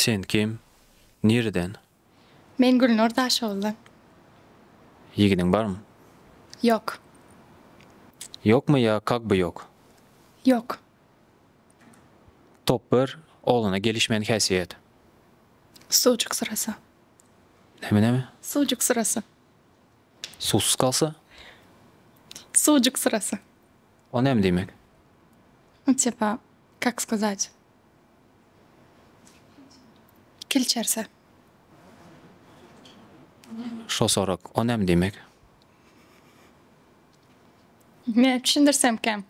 Sen kim? Nireden? Men Gülnur Daşoguzdan. Ýigidiň barmy? Ýok. Ýokmy ýa kak by ýok? Ýok. Top bir, oglana gelişmeýän häsiýet. Suwjuk syrasa. Näme näme? Suwjuk syrasa. Suwsuz kalsa? Suwjuk syrasa. O näme diýmek? Çepa, kak skazać. Kilçerse. Şosorak, o näme diýmek? Men düşündirsemkäm.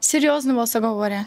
Serýozny bolsa gowy görýän.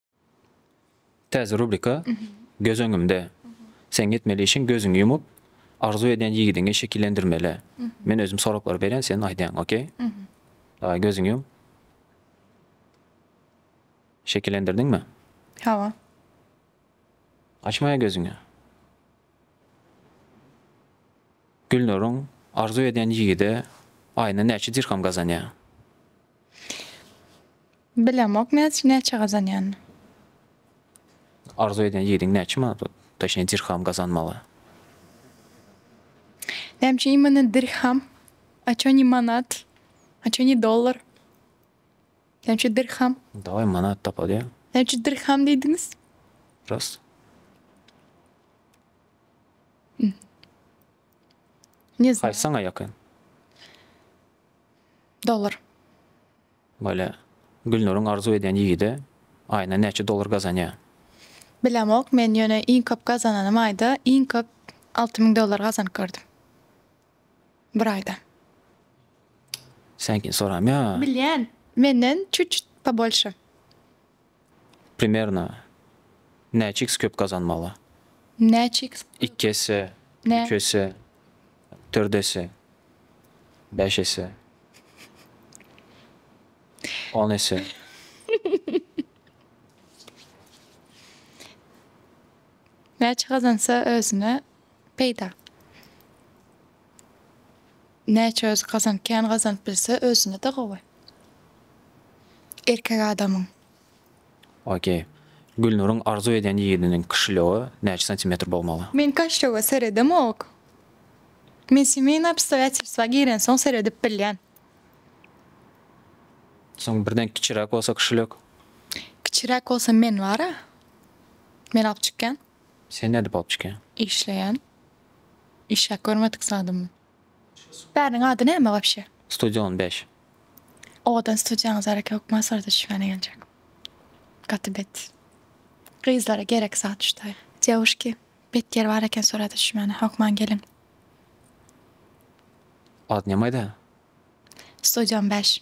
Täze rubrika Göz öňümde. Seň etmeli işiň gözüňi ýumup, arzuw edýän ýigidiňi şekillendirmeli. Men özüm soraklary berýän, sen aýdýaň, okey? Daway, gözüňi ýum. Şekillendirdiňmi? Hawa. Açmaýa gözüňi. Gülnuryň arzuw edýän ýigidi aýyna näçe dirham gazanýar? Bilemok näç näçe gazanýan. Arzuw edýän ýigidiň näçe manat bor. Toşnyý dirham gazanmaga. Näme üçin imana dirham? A ço ni manat? A ço ni dollar? Näme üçin dirham? Daway manat tapaly ýa. Näme üçin dirham diýdiňiz? Rast. Ne Haýsy saňa ýakyn? Dollar. Bolýa. Gülnuryň arzuw edýän ýigidi aýyna näçe dollar gazanýa? Bilemok men ýöne iň köp gazananym aýda iň köp alty müň dollar gazanyp gördüm. Bir aýda. Seňkini soramýa. Bilýän. Menden çuçut pobольşe. Primerno näçe iks köp gazanmaly? Näçe iks köp? Iki esse, üç esse, dört esse, bäş esse, on esse. Näçe gazansa özüne peýda? Näçe özi gazan kän gazanyp bilse özünede gowy erkek adamyň. Ok. Gülnuryň arzuw edýän ýigidiniň kişiligi näçe santimetr bolmaly? Men kaşlöge seredemok. Men semeýnoý obstoýatelstwa girensoň seredip bilýän. Soň birden kiçiräk bolsa kişilik? Kiçiräk bolsa men bara. Men alyp çykýan. Sen näde bolup çykýaň? Işleýän. Işläp görmedik zadymy? Bäriniň ady näme wapşe? Studio on bäş. Owadan studiýaňyz bareke hökman surata düşmäne geljek. Gaty bet. Gyzlara gerek zat ştaý. Dýewuşki, bet ýer bar eken surata düşmäne, hökman geliň. Adyňam aýda. Studio on bäş.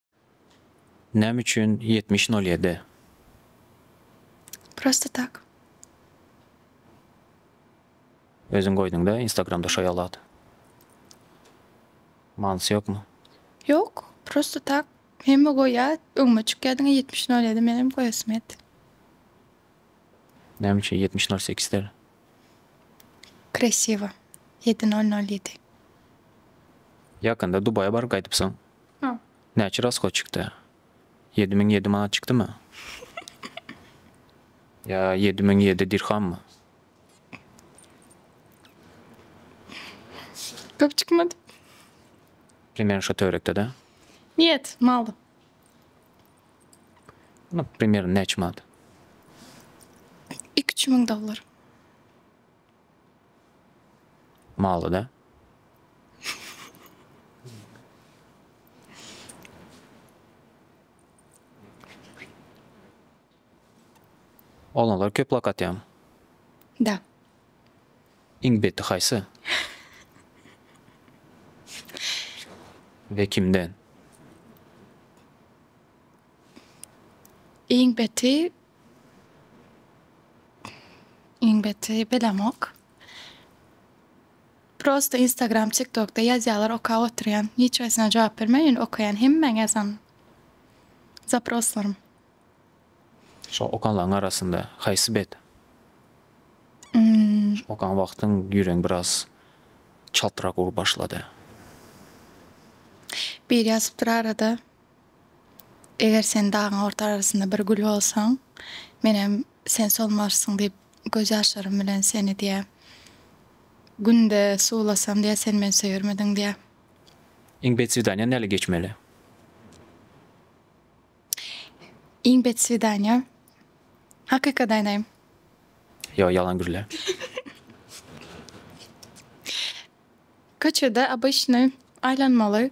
Näme üçin ýetmiş nol ýedi? Prosta tak. Özüň goýduňda instagramda şo ýaly at. Manysy ýokmy? Ýok, prosta tak. Hemme goýýar, öňüme çykýar diňe ýetmiş nol ýedi menem goýasym geldi. Näme üçin ýetmiş nol sekiz däl? Kresiwo. Ýedi nol nol ýedi. Ýakynda Dubaýa baryp gaýdypsyň. Näçe raskoçikda? Ýedi müň ýedi manat çykdymy? Ýa ýedi müň ýedi dirhammy? Köp çykmady. Primerni şo töwerekde-dä. Nýet, mal. No, primerno näçe manat? Iki-üç müň dollar. Maly da. Oglanlar köp lak atýaň. Da. Iň beti haýsy? We kimden? Iň beti Iň beti bilemok. Prosta instagram tiktokda ýazýalar okap oturýan hiç haýsyna jogap bermen ýöne okaýan hemmäň ýazan zaproslarym. Şo okanlaň arasynda haýsy bet? Okan wagtyň ýüregiň biraz çaltrak urup başlady. Biri ýazypdyr arada Eger sen dagyň orta arasynda bir gül bolsaň, Menem sen solmarsyň diýip, gözýaşlarym bilen seni diýä. Günde suwlasam diýä, sen meni söýermidiň diýä. Iň bet swidaniýa näle geçmeli? Iň bet swidaniýa? Hakykat aýdaýyn. Ýok, ýalan gürle. Köçede obyçnyý aýlanmaly.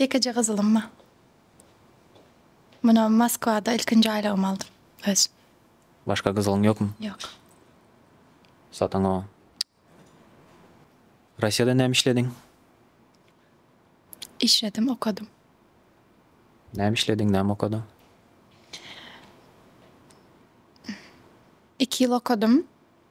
Ýekeje gyzylym bar. Muny Moskwada ilkinji aýlygymy aldym. Özüm. Başga gyzylyň ýokmy? Ýok. Sataň o. Russiýada näme işlediň? Işledim, okadym. Näme işlediň, näme okadyň? Iki ýyl okadym.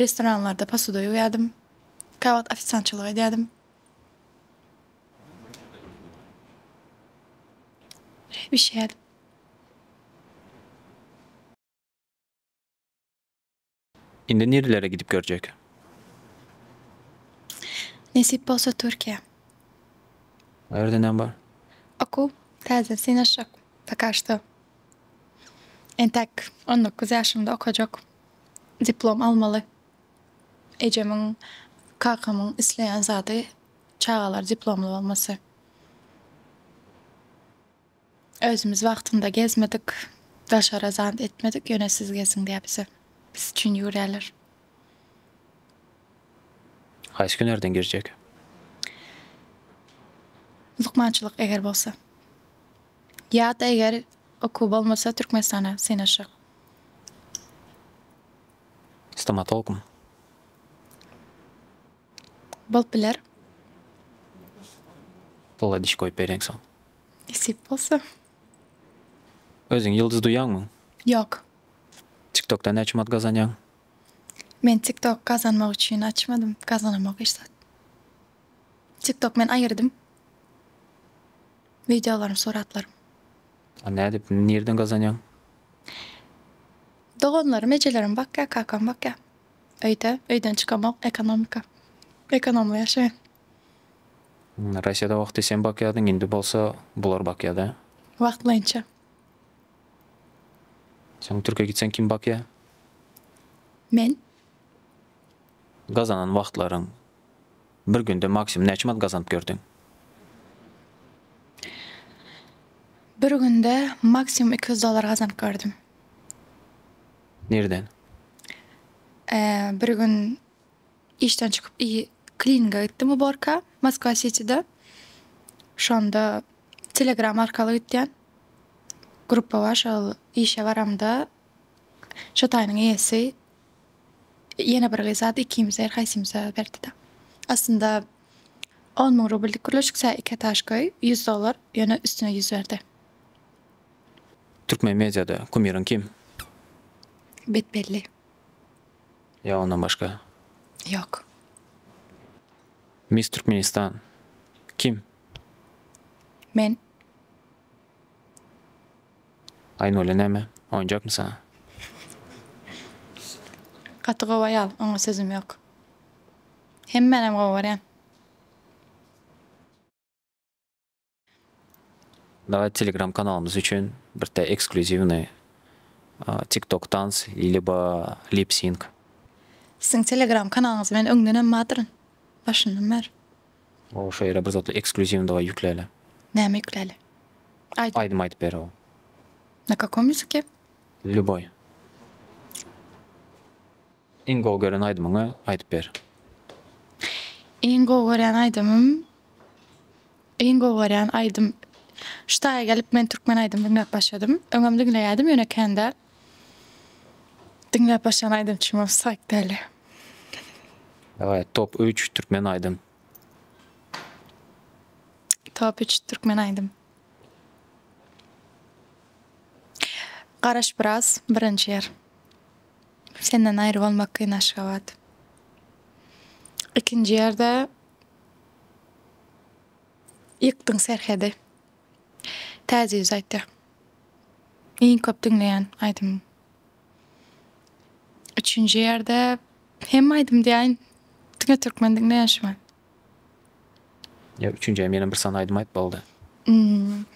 Restoranlarda posuda ýuwýardym. Käwagt ofisiantçylyk edýärdim. Çaý bişirýärdim. Indi nirelere gidip görjek? Nesip bolsa Türkiýä. O ýerde näme bar? Okuw täzeden synanyşjak. Poka şto. Entäk on dokuz ýaşymda okajak. diplom almaly. Ejemiň, kakamyň isleýän zady çagalar diplomly bolmasy. Özümiz wagtynda gezmedik, daşara zant etmedik, ýöne siz geziň diýýär bize. Biz üçin ýüwürýärler. Haýsy hünärden girjek? Lukmançylyk eger bolsa. Ýa-da eger okuw bolmasa Türkmenistana synaşyk. Stomatologmy? Bolup biler. Pula diş goýup bereýin soň. Nesip bolsa. Özüňi ýyldyz duýýaňmy? Ýok. Tiktokda näçe manat gazanýaň? Men tiktok gazanmak üçin açmadym. Gazanamok hiç zat. Tiktok men aýyrdym. Wideolarym suratlarym. A nädip nirden gazanýaň. Doganlarym ejelerim bakýa kakam bakýa öýde öýden çykamok ekonomika ekonomly ýaşaýan. Raşeda wagty sen bakýadyň indi bolsa bular bakýada. Wagtlaýynça. Soň türke gitseň kim bakýa. Men. Gazanan wagtlaryň. Bir günde maksimum näçe manat gazanyp gördiň? Bir günde maksimum iki ýüz dollar gazanyp gördüm. Nireden? Bir gün işden çykyp klininga gitdim uborka Moskwa Sitide. Şonda Telegram arkaly gitýän gruppa bar şol işe baramda şo taýynyň eýesi Ýene bir gyz zat ikimize her haýsymyza berdi-de. Aslynda on müň rubllik gürleşik sä iki etaž köý, ýüz dollar, ýöne üstüne ýüz berdi. Türkmen mediada kumiriň kim? Bet-belli. Ýa ondan başga? Ýok. Miss Türkmenistan kim? Men. Aýnully näme, oýunjakmy saňa? Gaty gowy aýal, oňa sözüm ýok. Hemmänem gowy görýän. Daway telegram kanalymyz üçin birte eksklýuziwnyý tik tok tans lýubo lip sink. Siziň telegram kanalyňyzy men öňdenem badyryn. Başyndan bäri. Gowy şu ýere bir zatlar eksklýuziwnydygy ýükläýle. Näme ýükläýle? Aýdym. Aýdym aýdyp ber gowy. Na kakom ýüzüke? Lýuboý. Iň gowy gören aýdymyňy aýdyp ber. Iň gowy görýän aýdymym Iň gowy görýän aýdym Şu taýa gelip men türkmen aýdym diňläp başladym. Öňem diňleýädim ýöne kän däl. Diňläp başlan aýdym çyma saýk däli. Dawai top üç türkmen aýdym. Top üç türkmen aýdym. Garaş biraz birinji ýer. Senden aýry bolmak kyn aşgabat. İkinci ýerde ýykdyň serhedi. Täze ýüz aýtýar. Iň köp diňleýän aýdymym. Üçünji ýerde hemme aýdym diýäýin. Diňe türkmen diňleýän şu wagt. Ýa üçünji ýa menem bir sany aýdym aýt boldy. Hmm.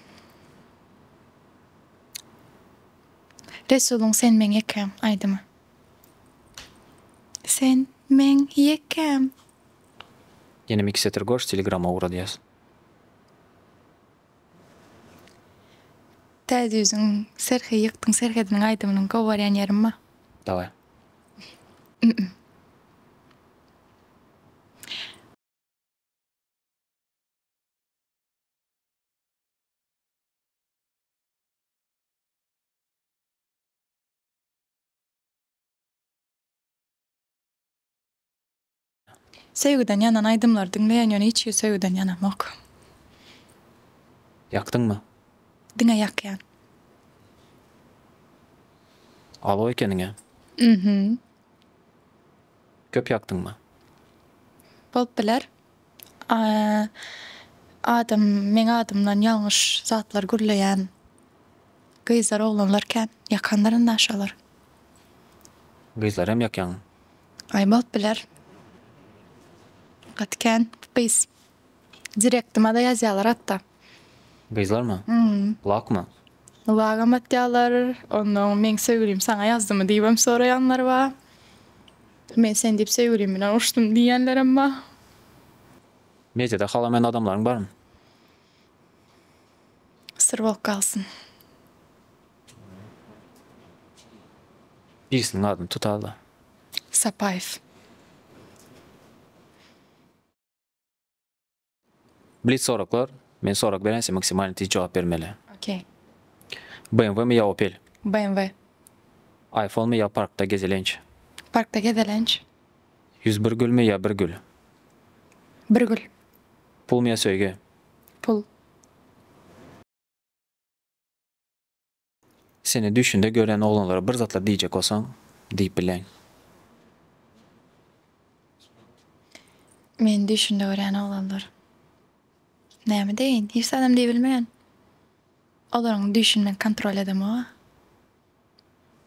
Resulyň Sen meň ýekäm aýdymy. Sen meň ýekäm. Ýene mixeter goş telegrama ugra diýýäs. Täze ýüzüň serhi ýykdyň serhediniň aýdymynyň gowy barýan ýerim ma. Daway. Ümüm. Söýgüden ýanan aýdymlary diňleýän ýöne hiç hili söýgüden ýanamok. Ýakdyňmy? Diňe ýakýan. Alow ekeniňä. Mhm. Köp ýakdyňmy? Bolup biler. Adam meň adymdan ýalňyş zatlar gürleýän gyzlar oglanlar kän ýakandyr indi aşalar. Gyzlaram ýakýaňmy? Aý bolup biler. Gaty kän gyz. Direktymada ýazýalar hatda. Gyzlarmy? Hmm. Lakmy? Lagam atýalar. Onnoň meň söýgülim saňa ýazdymy diýibem soraýanlar bar. Men sen diýip söýgülim bilen uruşdym diýýänlerem bar. Mediada halamaýan adamlaryň barmy? Syr bolup galsyn. Birisiniň adyny tutala. Sapaýew. Blitz soraklar. Men sorag berän sen maksimalny tiz jogap bermeli. Okey. BMW mi ýa Opel? BMW. Aýfonmy ýa parkda gezelenç? Parkda gezelenç. Ýüz bir gülmi ýa bir gül? Bir gül. Pulmy ýa söýgi? Pul. Seni düýşünde gören oglanlara bir zatlar diýjek bolsaň, diýip bileň. Meni düýşünde görýän oglanlar. Näme deýin? Hiç zadam diýibilmeýän. Olaryň düýşüni men kontrol edemog-a.